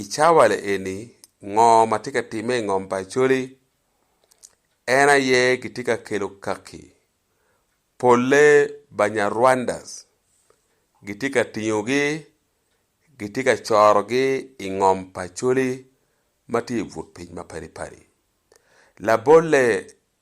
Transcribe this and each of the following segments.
I cawa eni, ngo ma tye ka timme i ngom pa Acholi? En aye gitye ka kelo kaki. Polle Banyarwandas gitye ka tingogi, gitye ka corogi i ngom pa Acholi ma tye i but piny ma padi padi. Labolle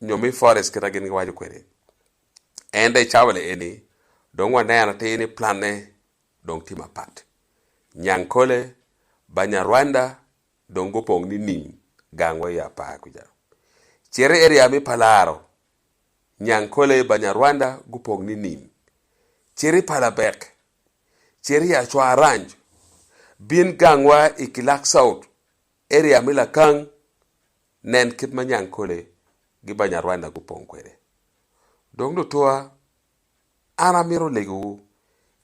nyo me Forest kit ma gin giwaco kwede. Ento i cawa lieni, dong waneno atir ni planne dong tye mapat. Nyankole, Banyarwanda dong gupong nining gang wa i apar kuca. Cito i area me Palaro, Nyankole, Banyarwanda gupong nining. Cito i Palabek, cito i Acwa Ranch, bin gang wa i Kilak South, area me Lakang, Nen kit ma Nyankole gi Banyarwanda gupong kwede. Dong lutuwa, an amito legowu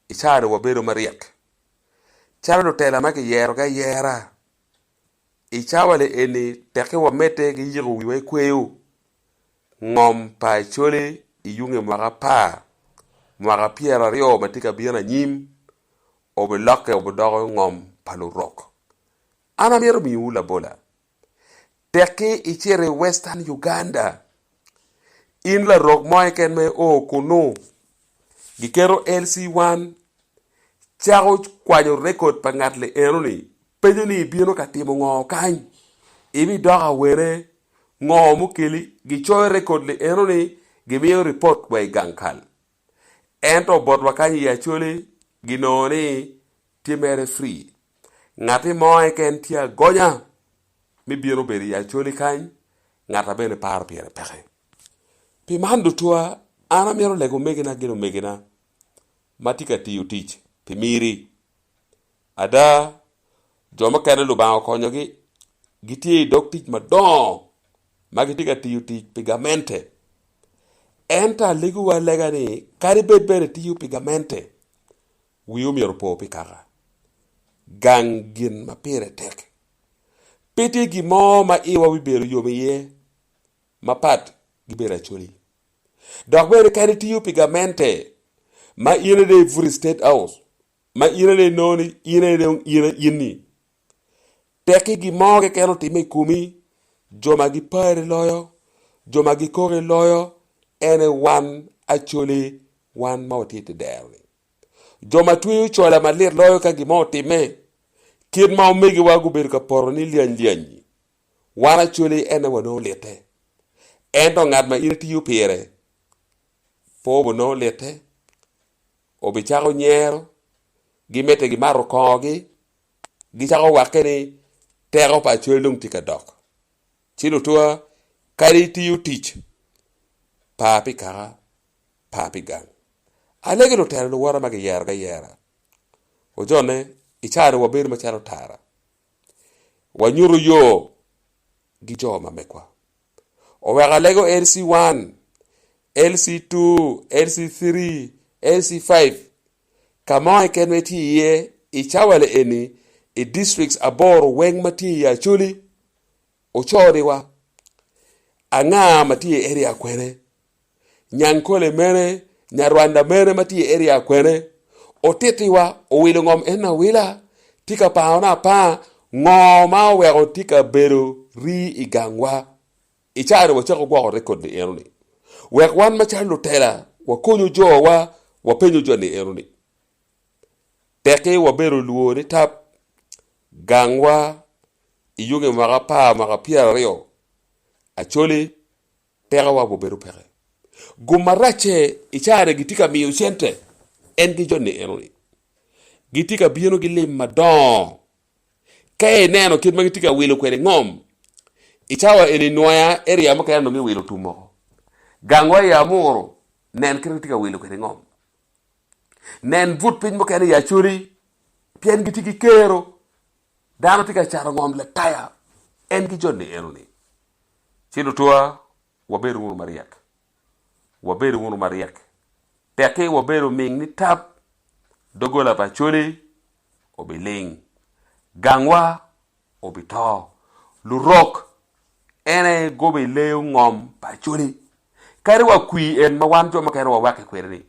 i caani wabedo maryek calo lutela ma kiyerogi ayera. I cawale eni tekke wamedde ki yiko wiwa i kweyo ngom pa Acholi i yunge mwaka apar mwaka pyeraryo ma tye ka bino anyim obilokke obidoko ngom pa Lurok. An amito miyowu labola. Tekki icito i Western Uganda, in larok mo keken ma io kunu, giketo LC1, cako kwanyo rekod pa ngat li enoni, penyo ni ibino ka timo ngo kany, ibidok awene, ngo mukeli, gicoyo rekod li enoni, gimiyo ripot wa i gang kal. Ento botwa kany i Acholi ginongo ni tye mere free. Ngati mo keken tye agonya me bino bedo i Acholi kany, ngata bene paro pire peke. Pi man dutwa an amito lego omegina gin omegina ma tye ka tiyo tic pi miri. Ada, jo mukene Lubanga okonyogi gitye i dog tic madongo ma gitye ka tiyo tic pi gamente. Ento alegowa lega ni kadi bed bene itiyo pi gamente, wi omyero opo pi kaka gang gin ma pire tek. Pe tye gin mo ma iwa bibedo yom iye mapat ki bedo acoli. Dok bene kadi itiyo pi gamente ma in ade ibuto i State House, ma in aye inongo ni in aye dong in aye in-ni. Tekki gin mo keken otimme i komi, jo ma gipari loyo, jo ma gikoki loyo, ene wan Acholi, wan ma watye i dero-ni. Jo ma tweyo cola malit loyo ka gin mo otimme, kit ma omegiwa gubedo ka poto ni lyany lyany-nyi, wan Acholi ene wanongo litte. Ento ngat ma in itiyo pire, pwo obonongo litte. obicako nyero, gimedde gimato kongogi, gicako wakke ni teko pa acwel dong tye ka dok. Ci lutua kadi itiyo tic, par pi kaka, par pi gang. Alegi lutelo luwota ma giyerogi ayera. Ojone, i caane wabedo macalo tara, wanyuto yo gi jo ma megwa. Oweko alego LC 1, LC 2, LC 3, LC 5. Ka mo keken ma itye iye i cawale eni i districts aboro weng ma tye i Acholi, Ocholiwa, Angaa ma tye i area kwene. Nyankole mene, Nyarwanda mene ma tye i area akwene, otiti wa, owilo ngom en awila, tye ka pango na apanga, ngo ma oweko tye ka bedo rii i gang wa? I cawa ni wacako gwoko record ni eno ni, wek wan ma calo lutela wa konyo jo wa, wa penyo jo ni eno ni, Teki wa bedo luo ni tap, gang wa i yunge mwaka apar mwaka pyera ryo, Acholi Pekowa gubedo peke. Gum maracce i carani gitye ka miyo cente, en ki joni eno-ni. Gitye ka bino ki lim madongo. Ka ineno kit ma gitye ka wilo kwede ngom, i cawa eni nwoya eria mukene onongo giwilo tum moko. Gangwa i Amuru, nen kit ma gitye ka wilo kwede ngom. Nen but piny mukene i Acoli, pien gitye ki kero. Dano tye ka cato ngom Lataya, en ki joni eno-ni. Ci lutwa, wabed wunu maryek. Wabed wunu maryek. Tekki wabedo ming ni tab, doggola pa Acholi obiling, gangwa obito, lurok en aye gobi leyo ngom pa Acholi. Kadi wa kwi en ma wan jo mukene wawakke kwede ni,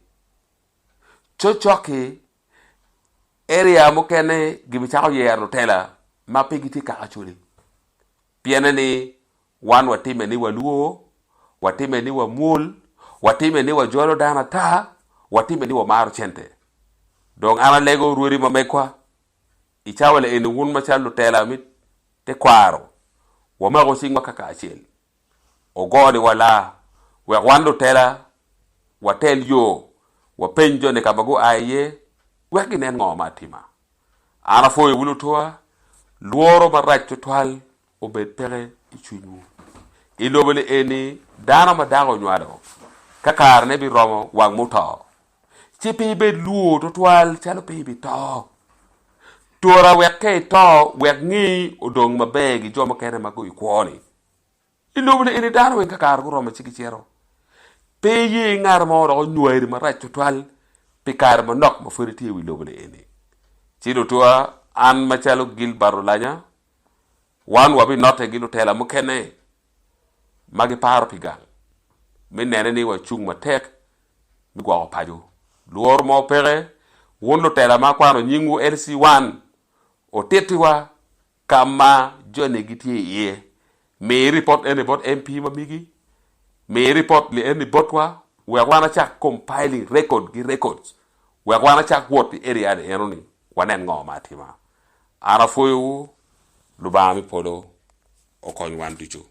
coccok-ki, area mukene gibicako yero lutela ma pe gitye kaka Acholi. Pienni ni wan watime ni walwo, watime ni wamwol, watime ni wajolo dano ata, watime ni wamaro cente. Dong an alego rwodi ma megwa, i cawa le eni wun macalo lutela me tekwaro, wamako cingwa kaka acel, ogo ni wala, wek wan lutela watel yo, wapeny jo ni ka ma gua iye, wek ginen ngo ma atima. An apwoyowu lutwa, lworo marac tutwal obed peke i cwinywu. I lobo-ni eni dano ma dako onywalo, ka karene biromo wang muto, ci pe ibed lwor tutwal calo pe ibito. Tora wek ka ito, wek ngeyi odong maber gi jo mukene ma guikwo-ni. I lobo-ni eni dano weng kakare guromo ci gicito. Pe iye ngat mo dok onywari marac tutwal pi kare manok ma pwod itye i wi lobo-ni eni. Ci lutua, an macalo Gilbert Olanya, wan wabinotte gi lutela mukene ma giparo pi gang me nene ni wacung matek me gwoko paco. Lworo mo peke, wun lutela ma akwano nyingwu LC1, otittiwa ka ma jone gitye iye. Mi ripot eni bot MP ma migi. Mi ripot li eni botwa wek wan acak compiling record ki records wek wan acak wot i area ni eno ni wanen ngo ma atima. An apwoyo wu. Lubanga me polo okony wan ducu.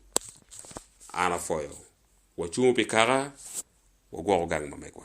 An apwoyo. Wacungu pi kaka, wagwoko gang ma megwa.